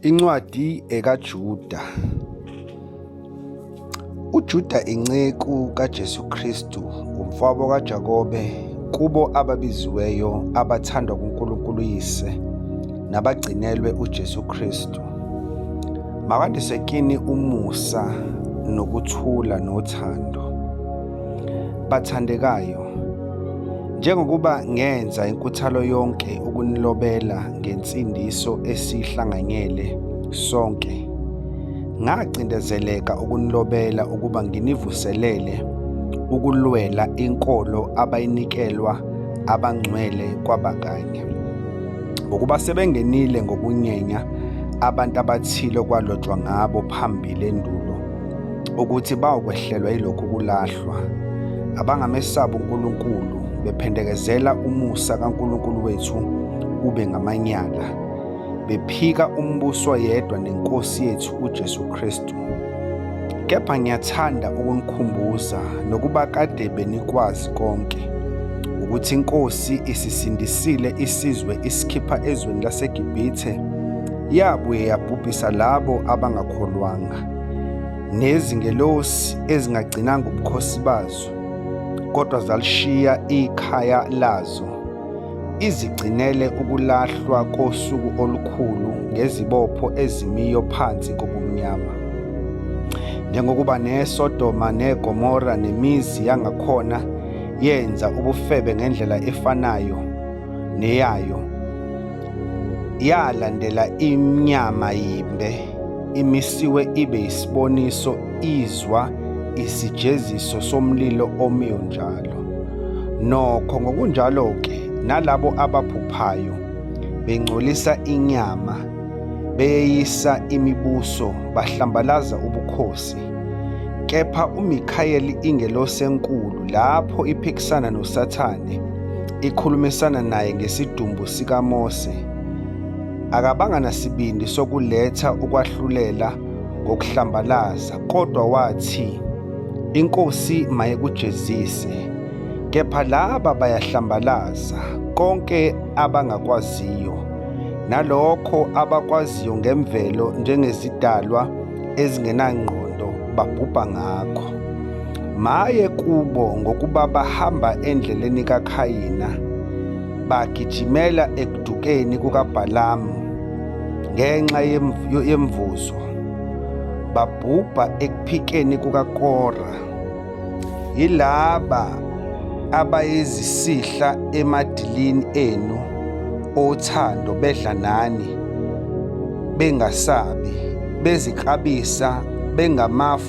Incwadi ekaJuda. UJuda inceku kaJesu Kristu, umfabo kaJakobe, kubo ababiziweyo abathandwa kuNkulunkulu Yise nabagcinelwe uJesu Kristu. Makandise kini umusa nokuthula nothando. Bathandekayo, njengokuba ngenza inkuthalo yonke ukunilobela ngensindiso esihlanganyele sonke, ngacindezeleka ukunilobela ukuba nginivuselele ukulwela inkolo abayinikelwa abangcwele kwabakanye. Ngokuba sebengenile ngokunyenya abantu abathile okwalotshwa ngabo phambili endulo, ukuthi bawukwehlelwa yilokhu kulahlwa abangamesabi uNkulunkulu bephendekezela umusa kaNkulunkulu wethu ube ngamanyala bephika umbuso yedwa nenkosi yethu uJesu Kristu kepha ngiyathanda ukunikhumbuza nokuba kade benikwazi konke ukuthi inkosi isisindisile isizwe isikhipha ezweni laseGibhithe yabuye yabhubhisa labo abangakholwanga nezingelosi ezingagcinanga ubukhosi bazo kodwa zalishiya ikhaya lazo izigcinele ukulahlwa kosuku olukhulu ngezibopho ezimiyo phansi kobumnyama njengokuba neSodoma neGomora nemizi yangakhona yenza ubufebe ngendlela efanayo neyayo Yalandela imnyama yimbe imisiwe ibe isiboniso izwa isijeziso somlilo omiyo njalo. Nokho ngokunjalo-ke nalabo abaphuphayo bengcolisa inyama beyeyisa imibuso bahlambalaza ubukhosi kepha uMikhayeli ingelosi enkulu lapho iphikisana noSathane ikhulumisana naye ngesidumbu sikaMose, akabanga nasibindi sokuletha ukwahlulela ngokuhlambalaza, kodwa wathi, INkosi mayekujezise, kepha laba bayahlambalaza, konke abangakwaziyo, nalokho abakwaziyo ngemvelo njengezidalwa ezingenangqondo babhubha ngakho. Maye kubo ngokuba bahamba endleleni kaKhayina, bagijimela ekudukeni kukaBhalamu ngenxa yemvuzo, babhubha ekuphikeni kukaKora. Yilaba abayizisihla emadilini enu othando bedla nani bengasabi, beziklabisa bengamafu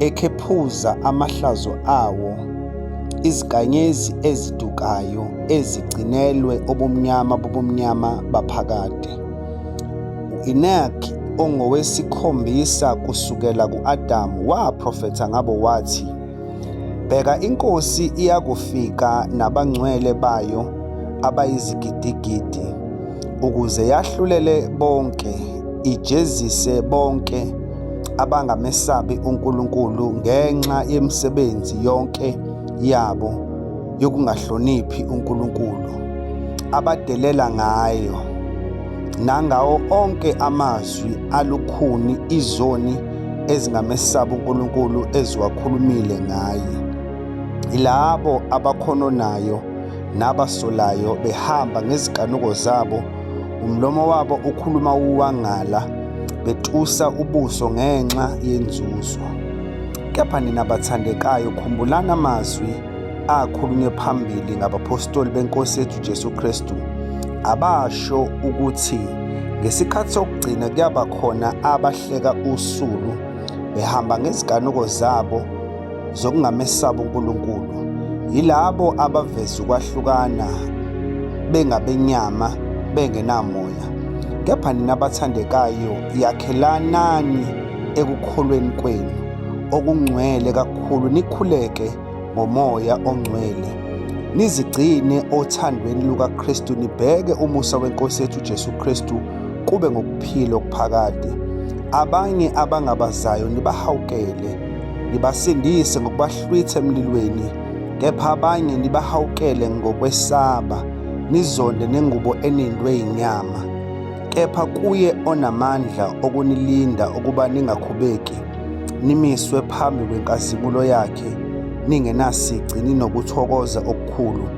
ekhephuza amahlazo awo, izinkanyezi ezidukayo ezigcinelwe ubumnyama bobumnyama baphakade. U-Enoch ongowesikhombisa kusukela ku-Adamu waprofetha ngabo wathi, Bheka iNkosi iyakufika nabangcwele bayo abayizigidigidi, ukuze yahlulele bonke, ijezise bonke abangamesabi uNkulunkulu ngenxa yemisebenzi yonke yabo yokungahloniphi uNkulunkulu abadelela ngayo nangawo onke amazwi alukhuni izoni ezingamesabi uNkulunkulu eziwakhulumile ngaye ilabo abakhononayo nabasolayo behamba ngezikanuko zabo Umlomo wabo ukhuluma uwangala, betusa ubuso ngenxa yenzuzo. Kepha nina bathandekayo, khumbulani amazwi akhulunywe phambili ngabaphostoli beNkosi yethu Jesu Kristu, abasho ukuthi ngesikhathi sokugcina kuyaba khona abahleka usulu behamba ngeziganuko zabo zokungamesaba uNkulunkulu yilabo abaveza ukwahlukana bengabenyama bengenamoya kepha nina bathandekayo yakhelanani ekukholweni kwenu okungcwele kakhulu nikhuleke ngomoya ongcwele nizigcine othandweni lukaKristu nibheke umusa wenkosi yethu Jesu Kristu kube ngokuphila okuphakade abanye abangabazayo nibahawukele Nibasindise ngokubahlwitha emlilweni, kepha abanye nibahawukele ngokwesaba, nizonde nengubo enindwe yinyama. Kepha kuye onamandla okunilinda ukuba ningakhubeki, nimiswe phambi kwenkazimulo yakhe, ningenasici ninokuthokoza okukhulu.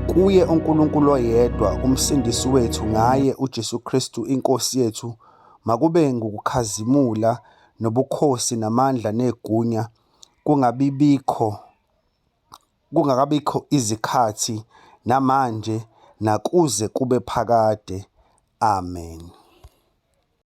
Kuye uNkulunkulu oyedwa, uMsindisi wethu, ngaye uJesu Kristu iNkosi yethu, makube ngukukhazimula nobukhosi namandla negunya kungabibikho kungakabikho izikhathi namanje nakuze kube phakade. Amen.